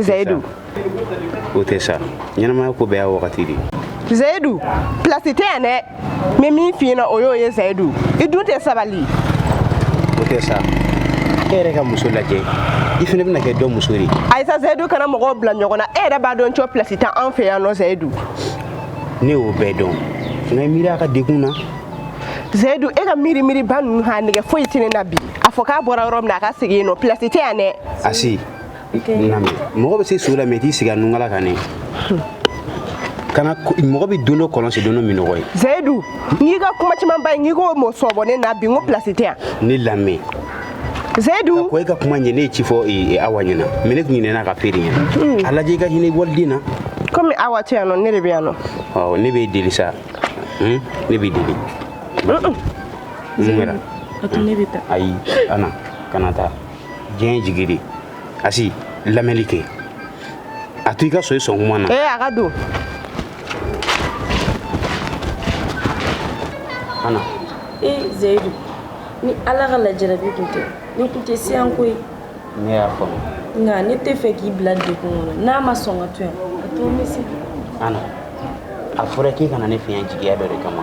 zayidu o tɛ sa ɲɛnamaya ko bɛɛ y'a wagati de ye zayidu pilasi tɛ yan dɛ n bɛ min f'i ɲɛna o y'o ye zayidu i dun tɛ sabali o tɛ sa e yɛrɛ ka muso lajɛ i fana bɛna kɛ dɔ muso de ye ayisa zayidu kana mɔgɔw bila ɲɔgɔn na e yɛrɛ b'a dɔn cɔ pilasi tɛ an fɛ yan nɔ zayidu ne y'o bɛɛ dɔn nka i miiri a ka degun na zayidu e ka miiri miiriba ninnu a nɛgɛ foyi tɛ ne na bi a fɔ k'a bɔra yɔrɔ min na a ka segin yen nɔ pilasi tɛ yan dɛ asi mɔgɔ bɛ se su la mɛ i t'i sigi a nunkala kan ne kana mɔgɔ bɛ don dɔ kɔlɔn sen don dɔ minnɔgɔ ye zayidu n'i ka kuma caman ba ye n'i ko mɔ sɔbɔ ne na bi n ko pilasi tɛ yan ne lamɛn zayidu ko e ka kuma ɲɛ ne ye ci fɔ e, e, awa ɲɛna mɛ ne tun ɲinɛna k'a f'e yɛrɛ ɲɛna hmm. a lajɛ i ka hinɛ waliden na komi awa tɛ yan nɔ ne de bɛ yan nɔ ɔ ne b'e deli sa hmm? ne b'i deli mun kɛra ayi ana kana taa diɲɛ jigi de asi lamɛnni kɛ a to i ka so i sɔn kuma na ee a ka don ana ee zayidu ni ala ka lajarabi tun tɛ ne tun tɛ si yan koyi ne y'a faamu nka ne t'a fɛ k'i bila degun kɔnɔ n'a ma sɔn ka to yan a to n bɛ se ana a fɔra k'i kana ne fiɲɛ jigiya dɔ de kama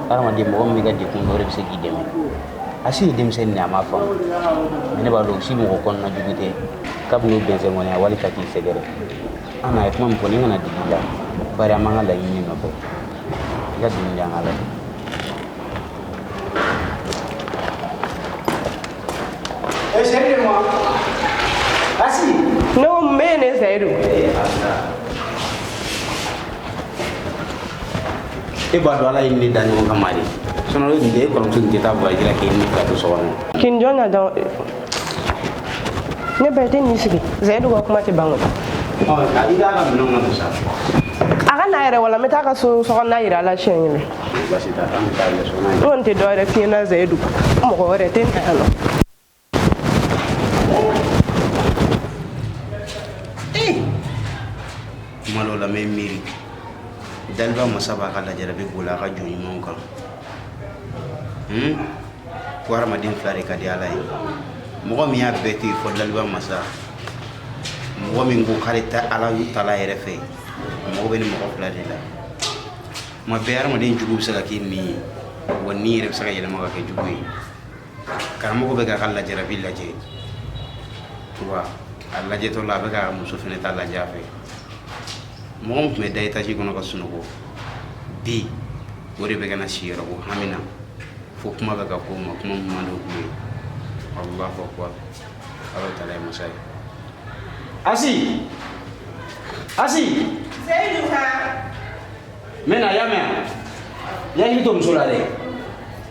hadamaden mɔgɔ min b'i ka degun dɔn de bɛ se k'i dɛmɛ asi ye denmisɛnnin a ma faamu ne b'a dɔn asi mɔgɔ kɔnɔna jugu tɛ kabini bɛnsɛn kɔni a wali ka k'i sɛgɛrɛ ana ye kuma min fɔ nin kana digi i la bari an b'an ka laɲini nɔfɛ i ka dimi di an ka laɲini Asi, ne y'o mɛn ne zayidu e b'a dɔn ala ye an da ɲɔgɔn kama de sinon n'o tun tɛ e kɔrɔmuso tun tɛ taa voyage la k'e ni fila to so kɔnɔ kin jɔn na dɔn ne ba i tɛ nin sigi zayidu ka kuma tɛ ban koyi i t'a ka minɛnw na musa a ka na yɛrɛ wala n bɛ taa ka so sokɔnɔna yira a la siɲɛ kelen n kɔni tɛ dɔ wɛrɛ f'i ɲɛna zayidu mɔgɔ wɛrɛ tɛ n ta yan nɔ Eh! kuma dɔw la n bɛ miiri daliba masa b'a ka lajarabi boli a ka jɔn ɲumanw kan hmm? ko hadamaden fila de ka di ala ye mɔgɔ min y'a bɛɛ to yen fɔ daliba masa mɔgɔ min ko k'ale ta ala tala yɛrɛ fɛ mɔgɔ bɛ ni mɔgɔ fila de la tuma bɛɛ hadamaden jugu bɛ se ka k'i ɲin ye wa ɲin yɛrɛ bɛ se ka yɛlɛma ka kɛ jugu ye karamɔgɔ bɛ k'a ka lajarabi lajɛ wa a lajɛtɔ la a bɛ ka muso fana ta lajɛ a fɛ mɔgɔ min tun bɛ da etaji kɔnɔ ka sunɔgɔ bi o de bɛ ka na si yɔrɔ ko hami na fo kuma bɛ ka k'o ma kuma min man d'o ye allahu akbar ala taala ye masa ye asi asi seyidu ka n bɛ na y'a mɛn yan y'a hakili to muso la dɛ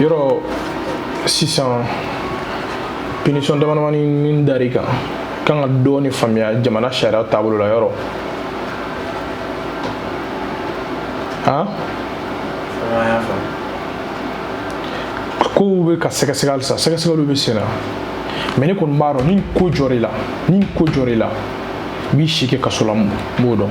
yɔrɔ sisan pinisɔn damadamani min dar'i kan k'an ka dɔɔni faamuya jamana sariya taabolo la yɔrɔ han kow bɛ ka sɛgɛsɛgɛ halisa sɛgɛsɛgɛliw bɛ sen na mɛ ne kɔni b'a dɔn ni ko jɔr'i la i b'i si kɛ kaso la n b'o dɔn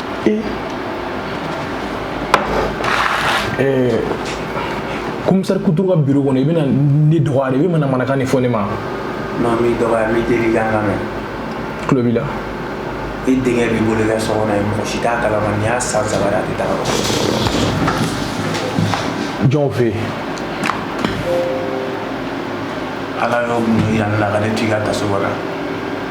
ee komisari kuturu ka biro kɔnɔ i bɛna ne dɔgɔya de i bɛ manamanakan de fɔ ne ma non n m'i dɔgɔya n b'i deli ka n lamɛn tulo b'i la i denkɛ b'i bolo i ka so kɔnɔ yen mɔgɔ si t'a kalama nin y'a san saba de a tɛ taga jɔn fɛ yen ala y'o mun yira ne la ka ne to i ka taso kɔnɔ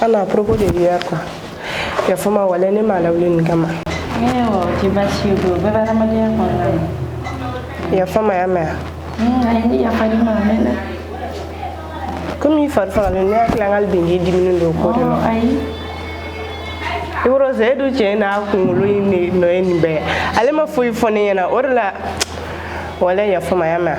Ana a propos de hier quoi yafa n ma wala ne m'a lawuli nin kama o tɛ baasi ye o bɛɛ bɛ adamadenya kɔnɔna na yafa n ma y'a mɛn a ye ne yafa ne ma a mɛnna komi i fari fagalen ne hakili an ka bin k'i diminen don o ko de la ayi yɔrɔ seyidu cɛ n'a kunkolo in de nɔ ye nin bɛɛ ale ma foyi fɔ ne ɲɛna o de la wala yafa n ma y'a mɛn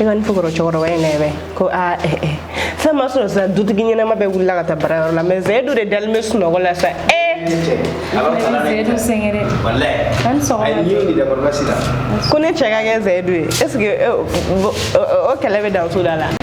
e ka fo kɔrɔ cɛkɔrɔba in nɛ ko aa eh, eh. fɛn ma sɔrɔ sisan dutigi ɲɛnama bɛɛ wulila ka taa baarayɔrɔ la mɛ seyidu de dalen bɛ sunɔgɔ la sa e ko ne cɛ ka kɛ seyidu ye est ce que o kɛlɛ bɛ dan so da la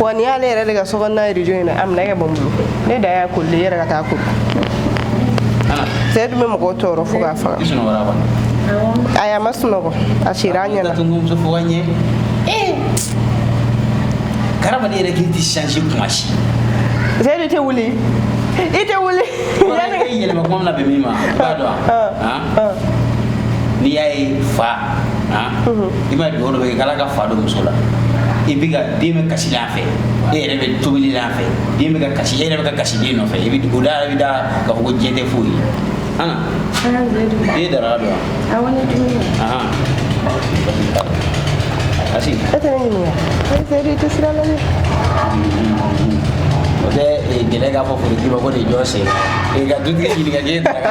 wa ni y'ale yɛrɛ de ka sokɔnɔna rijo in na a minɛ kɛ bɔ n bolo ne da y'a koli yɛrɛ ka taa koli seyidu bɛ mɔgɔw tɔɔrɔ fo k'a faga ayi a ma sunɔgɔ a sira a ɲɛna karamaden yɛrɛ k'i ti change kuma si seyidu i tɛ wuli i tɛ wuli yɛlɛma kuma min na bɛn min ma i b'a dɔn wa n'i y'a ye fa i b'a dɔn dɔ bɛ kala ka fa don muso la i bɛ ka den bɛ kasi a fɛ e yɛrɛ bɛ tobili a fɛ den bɛ ka kasi e yɛrɛ bɛ ka kasi den nɔfɛ i bɛ dugu da yɛrɛ bɛ da ka fɔ ko diɲɛ tɛ foyi ye an i ye daraka dun wa awɔ ne dumuni ahan asi e tɛ ne ɲininka e tɛ i tɛ sira la dɛ o tɛ gɛlɛya k'a fɔ forotigi ma ko nin jɔ sen ka dutigi ɲininka k'e daraka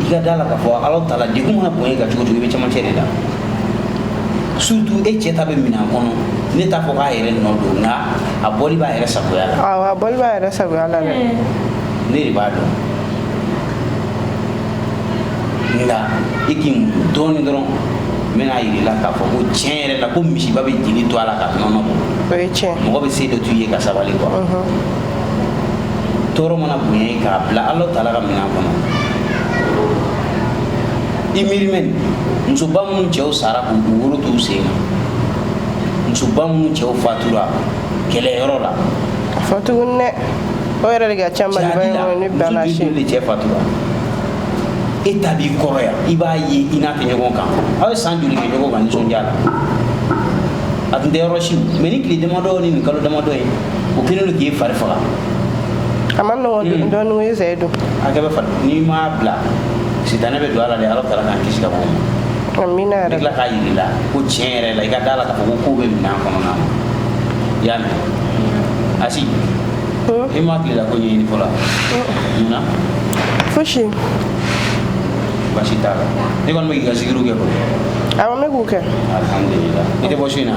i ka d'a la k'a fɔ ala taala degun mana bonya ka cogo cogo i bɛ cɛmancɛ de la surtout e cɛ ta bɛ minɛn kɔnɔ ne t'a fɔ k'a yɛrɛ nɔ don nka a bɔli b'a yɛrɛ sagoya la awɔ a bɔli b'a yɛrɛ sagoya la dɛ ne de b'a dɔn nka i k'i muɲu dɔɔnin dɔrɔn n bɛn'a yir'i la k'a fɔ ko tiɲɛ yɛrɛ la ko misiba bɛ jeli to a la ka nɔnɔ bɔ o ye tiɲɛ mɔgɔ bɛ se dɔ t'u ye ka sabali quoi tɔɔrɔ mana bonya i k'a bila ala taala ka minɛn kɔnɔ i miiri mɛ musoba minnu cɛw sara k'u k'u woro t'u sen kan musoba minnu cɛw fatura kɛlɛyɔrɔ la fatuguni dɛ o yɛrɛ de ka ca maliba in kɔnɔ ni bana si de cɛ fatura e ta b'i kɔrɔ yan i b'a ye i n'a tɛ ɲɔgɔn kan aw ye san joli kɛ ɲɔgɔn kan nisɔndiya la a tun tɛ yɔrɔ si mɛ ni tile damadɔ ni nin kalo damadɔ ye o kelen don k'i fari faga a ma nɔgɔ hmm. dɔɔni ko zɛ don a kɛ bɛ fari n'i m'a bila sitanɛ bɛ don a la dɛ ala taala k'an kisi ka b'o ma amina yɛrɛ tila k'a yir'i la ko tiɲɛ yɛrɛ la i ka d'a la k'a fɔ ko ko bɛ minɛn kɔnɔna na i y'a mɛn hmm. asi hmm. i ma tilela ko ɲɛɲini fɔlɔ mun na fosi baasi t'a la ne kɔni bɛ k'i ka zikiriw kɛ koyi awɔ n bɛ k'u kɛ alihamudulila i tɛ bɔ su in na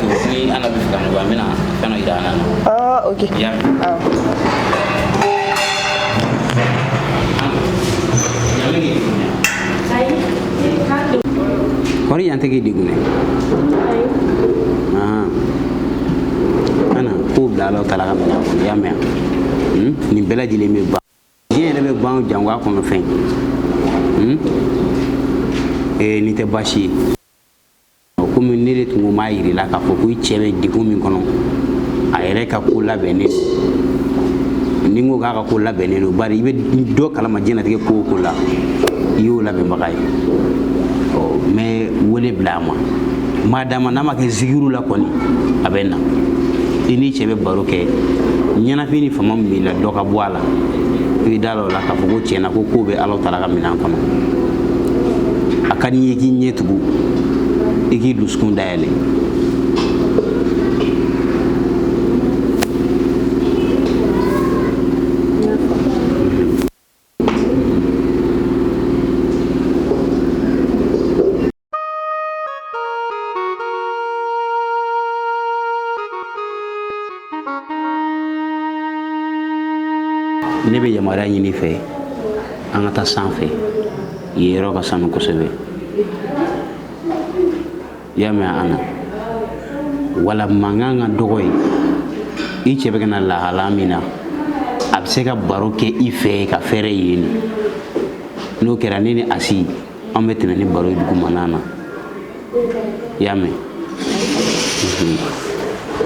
ni ala b'a fɛ ka nɔgɔya n bɛna fɛn dɔ yira an na. ɔɔ ok. i y'a mɛn. awɔ. kɔri yan tɛ k'i degun dɛ. an k'o bila ala taala ka minɛn kɔnɔ i y'a mɛn nin bɛɛ lajɛlen bɛ ban diɲɛ yɛrɛ bɛ ban jango a kɔnɔ fɛn nin tɛ baasi ye. komi ne de tun ko m'a yir'i la k'a fɔ ko i cɛ bɛ degun min kɔnɔ a yɛrɛ ka ko labɛnnen don ni n ko k'a ka ko labɛnnen don bari i bɛ dɔ kalama diɲɛnatigɛ ko o ko ala y'o labɛnbaga ye ɔ n bɛ wele bila a ma m'a d'a ma n'a ma kɛ zikiri la kɔni a bɛ na i n'i cɛ bɛ baro kɛ ɲɛnafin ni fama min b'i la dɔ ka bɔ a la i bɛ d'a la o la k'a fɔ ko tiɲɛ na ko ko bɛ ala taala ka minɛn kɔnɔ a ka di n ye k'i ɲɛ tugu i k'i dusukun dayɛlɛ ne bɛ yamaruya ɲini i fɛ an ka taa sanfɛ yen yɔrɔ ka sanu kosɛbɛ i y'a mɛn an na wala mankan ka dɔgɔ yen i cɛ bɛ ka na lahala min na a bɛ se ka baro kɛ i fɛ ka fɛɛrɛ yen n'o kɛra ne ni asi an bɛ tɛmɛ ni baro ye dugumana na i y'a mɛn mhm.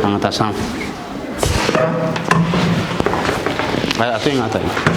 an ka taa sanfɛ a to yen an ka taa yen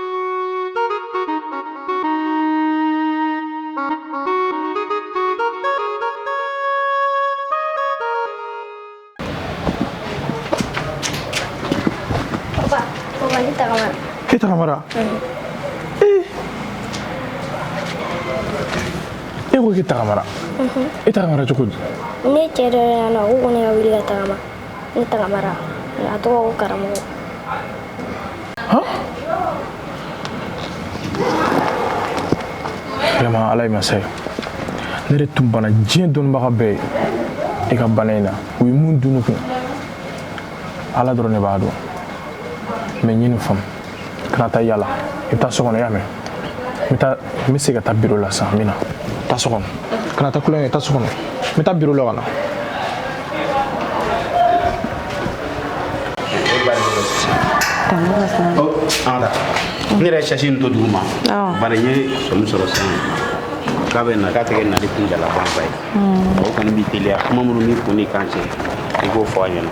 Ito kamera. Eh. E ko k'i tagama ita kamara cogo di ne cɛ dɔ yan nɔ u kɔni ka wuli ka tagama ne tagamara a tɔgɔ ko karamɔgɔ vraiment ala ye masa ye ne de tun bana diɲɛ dɔnnibaga bɛɛ ye i ka bana in na u ye mun dunu kun ala dɔrɔn ne b'a dɔn mɛ n ye nin faamu kana taa yala i bɛ taa so kɔnɔ i y'a mɛn n bɛ taa n bɛ se ka taa biro la sisan n bɛ na taa so kɔnɔ kana taa kulonkɛ taa so kɔnɔ n bɛ taa biro la ka na ne yɛrɛ sasi nin to dugu ma bari n ye sɔmi sɔrɔ sisan k'a bɛ na k'a tɛ kɛ nali kunjalafanba ye o kɔni b'i teliya kuma minnu b'i kun n'i kan cɛ i k'o fɔ a ɲɛna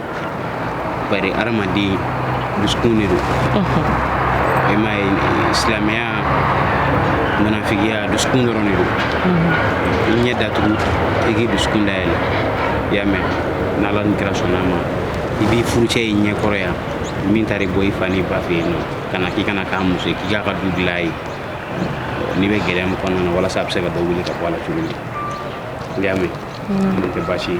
bari hadamaden dusukun de don i m'a ye silamɛya munafigiya dusukun dɔrɔn de don i ɲɛ datugu i k'i dusukun dayɛlɛ i y'a mɛn n'ala ni kira sɔnna a ma i b'i furucɛ ye i ɲɛ kɔrɔ yan min taara i bɔ i fa n'i ba fɛ yen nɔ ka na k'i ka na k'a muso ye k'i k'a ka du dilan ye n'i bɛ gɛlɛya min kɔnɔna na walasa a bɛ se ka dɔ wuli ka bɔ a la cogo min i y'a mɛn n'o tɛ baasi ye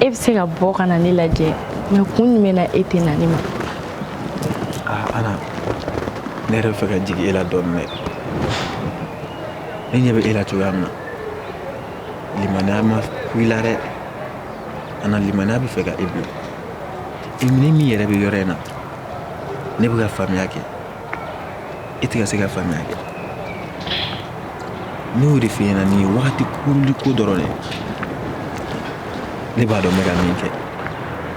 e bɛ se ka bɔ ka na ne lajɛ mɛ kun jumɛn na e tɛ na ne ma ana ne yɛrɛ bɛ fɛ ka jigin e la dɔɔnin dɛ ne ɲɛ bɛ e la cogoya min na limaniya ma ku i la dɛ ana limaniya bɛ fɛ ka e bila i ni min yɛrɛ bɛ yɔrɔ in na ne bɛ ka faamuya kɛ e tɛ ka se ka faamuya kɛ ne y'o de f'i ɲɛna nin ye wagati kurunnin ko dɔrɔn de ye ne b'a dɔn n bɛ ka min kɛ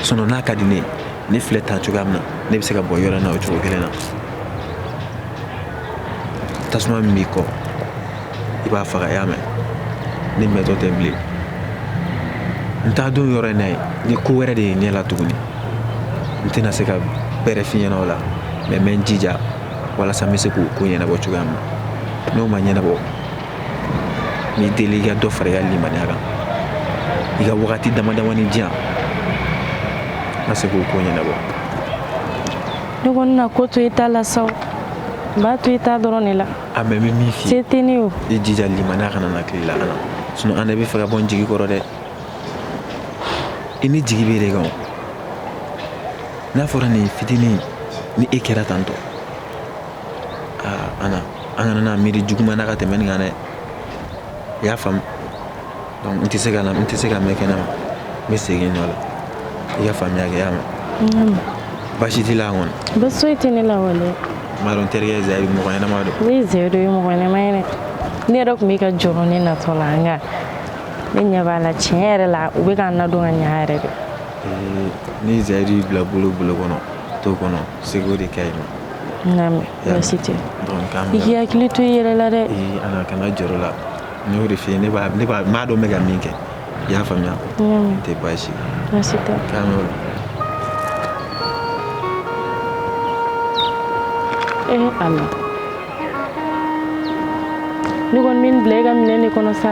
sinɔn n'a ka di ne ye ne filɛ ta cogoya min na ne bɛ se ka bɔ yɔrɔ in na o cogo kelen na tasuma min b'i kɔ i b'a faga y'a mɛn ne mɛntɔ tɛ bilen n t'a don yɔrɔ in na ye ni ko wɛrɛ de ye ɲɛ la tuguni n tɛna se ka bɛrɛ f'i ɲɛna o la mɛ n bɛ n jija walasa n bɛ se k'o ko ɲɛnabɔ cogoya min na n'o ma ɲɛnabɔ n b'i deli i ka dɔ fara i ka limaniya kan i ka wagati damadamanin di yan n ka se k'o ko ɲɛnabɔ ne kɔni na ko to i ta la sa n b'a to i ta dɔrɔn de la A mɛ n bɛ min f'i tɛ ne i jija limaniya kana na ki la sinɔn an bɛ fɛ ka bɔ n jigi kɔrɔ dɛ i ne jigi b'e de kan n'a fɔra nin fitinin ni e kɛra tantɔ aa ana an kana na miiri juguman na ka tɛmɛ nin kan dɛ i y'a faamu n tɛ se ka n tɛ se ka mɛn kɛnɛ ma n bɛ segin n nɔ la i ka faamuya kɛ mɛ baasi t'a la kɔnɔ bɛ so tɛ ne la dɔn terikɛ zri mɔgɔ ɲɛnama don ne ze dɔ ye mɔgɔ ɲɛnama ye ne yɛrɛ tun bɛ ka jɔn ne natɔ la an ne ɲɛ b'a la tiɲɛ yɛrɛ la u bɛ ka na dɔn ka ɲɛ yɛrɛ dɛ ni zri bila bolo bolo kɔnɔ to kɔnɔ segu de ka ɲi ma tɛ i hakili to i yɛrɛ la dɛ kana jɔ la n y'o de f'i ye ne b'a ne b'a n b'a dɔn n bɛ ka min kɛ i y'a faamuya tɛ baasi baasi tɛ k'an y'o la ee ala ne kɔni bɛ n bila i ka minɛ de kɔnɔ sa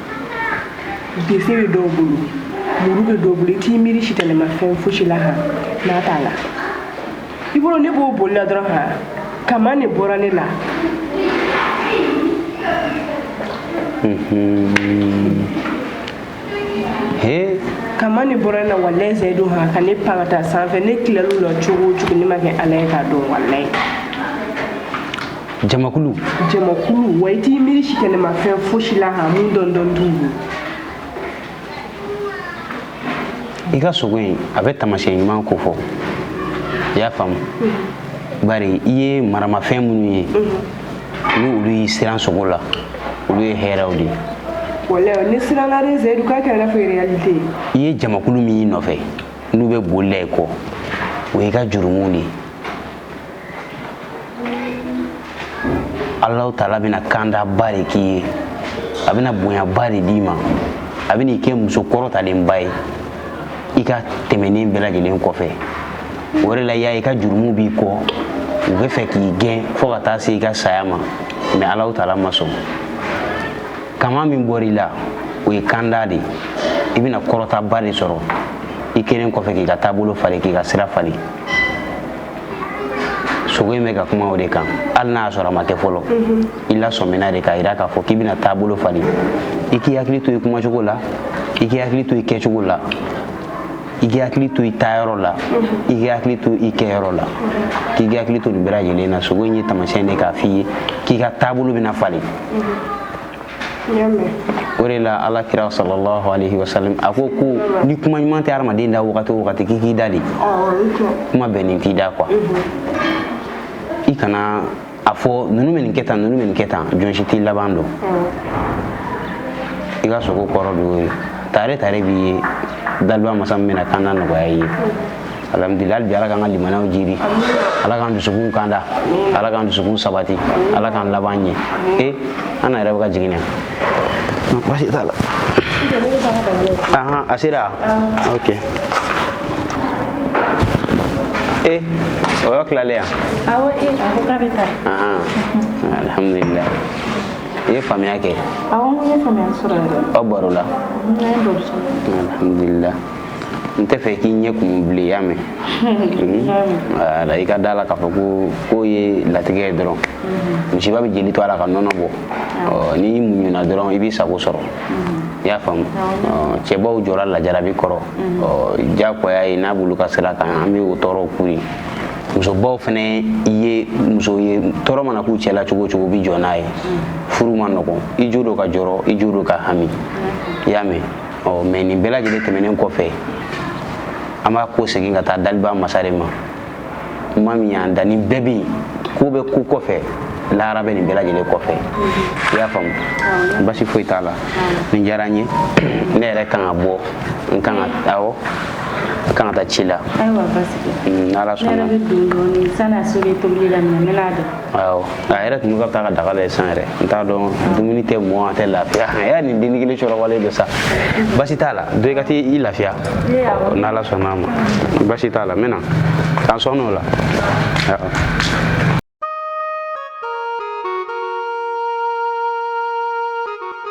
bese bɛ dɔw bolo muru bɛ dɔw bolo i t'i miiri sitanɛmafɛn fosi la han n'a t'a la i bolo ne b'o boli la dɔrɔn han kaman de bɔra ne la he kaman de bɔra ne la walayi zayidu han ka ne pan ka taa sanfɛ ne tilal'o la cogo o cogo ne ma kɛ ala ye k'a dɔn walayi jamakulu jamakulu wa i t'i miiri si kɛnɛmafɛn fosi la ka mun dɔndɔn t'u ye i ka sogo in a bɛ tamasiyɛn ɲuman ko fɔ i y'a faamu bari i ye maramafɛn minnu ye ni olu y'i siran sogo la olu ye hɛrɛw de ye walayi ne siranna dɛ zɛyidu k'a kɛra fɛ réalité i ye jamakulu min y'i nɔfɛ n'u bɛ boli la i kɔ o y'i ka jurumuw de ye Alahu taala bɛna kandaba de k'i ye a bɛna bonyaba de d'i ma a bɛna i kɛ muso kɔrɔtalenba ye i ka tɛmɛnen bɛɛ lajɛlen kɔfɛ o de la y'a i ka jurumu b'i kɔ u bɛ fɛ k'i gɛn fo ka taa se i ka saya ma mais alahu taala ma sɔn kaman min bɔra i la o ye kanda de ye i bɛna kɔrɔtaba de sɔrɔ i kɛlen kɔfɛ k'i ka taabolo falen k'i ka sira falen sogo in bɛ ka kuma o de kan hali n'a y'a sɔrɔ a ma kɛ fɔlɔ i lasɔmina de k'a jira k'a fɔ k'i bɛna taabolo falen i k'i hakili to i kumacogo la i k'i hakili to i kɛcogo la i k'i hakili to i taayɔrɔ la i k'i hakili to i kɛyɔrɔ la k'i k'i hakili to nin bɛɛ lajɛlen na sogo in ye taamasiyɛn de k'a f'i ye k'i ka taabolo bɛna falen o de la ala kira sallallahu alaihi wasallam a ko ko ni kuma ɲuman tɛ hadamaden da wagati o wagati k'i k'i da de kuma bɛnnen t'i da quoi i kana a fɔ ninnu bɛ nin kɛ tan ninnu bɛ nin kɛ tan jɔn si t'i laban dɔn i ka sogo kɔrɔ don tare tare b'i ye daliba masa min bɛna kanda nɔgɔya i ye alhamdulillah bi ala k'an ka limanaw jiidi ala k'an dusukun kanda ala k'an dusukun sabati ala k'an laban ɲɛ e an na yɛrɛ bɛ ka jigin yan baasi t'a la a sera ok e o yɔrɔ tilalen yan awɔ e a ko k'a bɛ taa alhamdulillah i ye faamuya kɛ awɔ n ko n ye faamuya sɔrɔ yɛrɛ aw baro la alhamdulillah n tɛ fɛ k'i ɲɛ kun bilen y'a mɛn wala i ka d'a la k'a fɔ ko k'o ye latigɛ ye dɔrɔn misiba bɛ jeli to a la ka nɔnɔ bɔ n'i muɲuna dɔrɔn i b'i sago sɔrɔ i y'a faamu cɛbaw jɔrɔla jarabi kɔrɔ diyagoya ye n'an b'olu ka sira kan an bɛ o tɔɔrɔw k'u ye musobaw fana ye muso ye tɔɔrɔ mana k'u cɛla cogo cogo bɛ jɔ n'a ye furu ma nɔgɔn i jo don ka jɔrɔ i jo don ka hami i y'a mɛn ɔ mais nin bɛɛ lajɛlen tɛmɛnen kɔfɛ an b'a kɔsegin ka taa daliba masa de ma ma min y'an da nin bɛɛ bɛ yen ko bɛ ko kɔfɛ lahara bɛ nin bɛɛ lajɛlen kɔfɛ i y'a faamu basi foyi t'a la nin diyara n ye ne yɛrɛ kan ka bɔ n kan ka awɔ n kan ka taa ci la n'ala sɔnna awɔ a yɛrɛ tun bɛ ka taa ka daga lajɛ san yɛrɛ n t'a dɔn dumuni tɛ mɔn a tɛ lafiya a y'a nin denni kelen sɔrɔwalen don sa basi t'a la dɔ i ka t'i i lafiya n'ala sɔnna a ma basi t'a la n bɛ na k'an sɔɔn'o la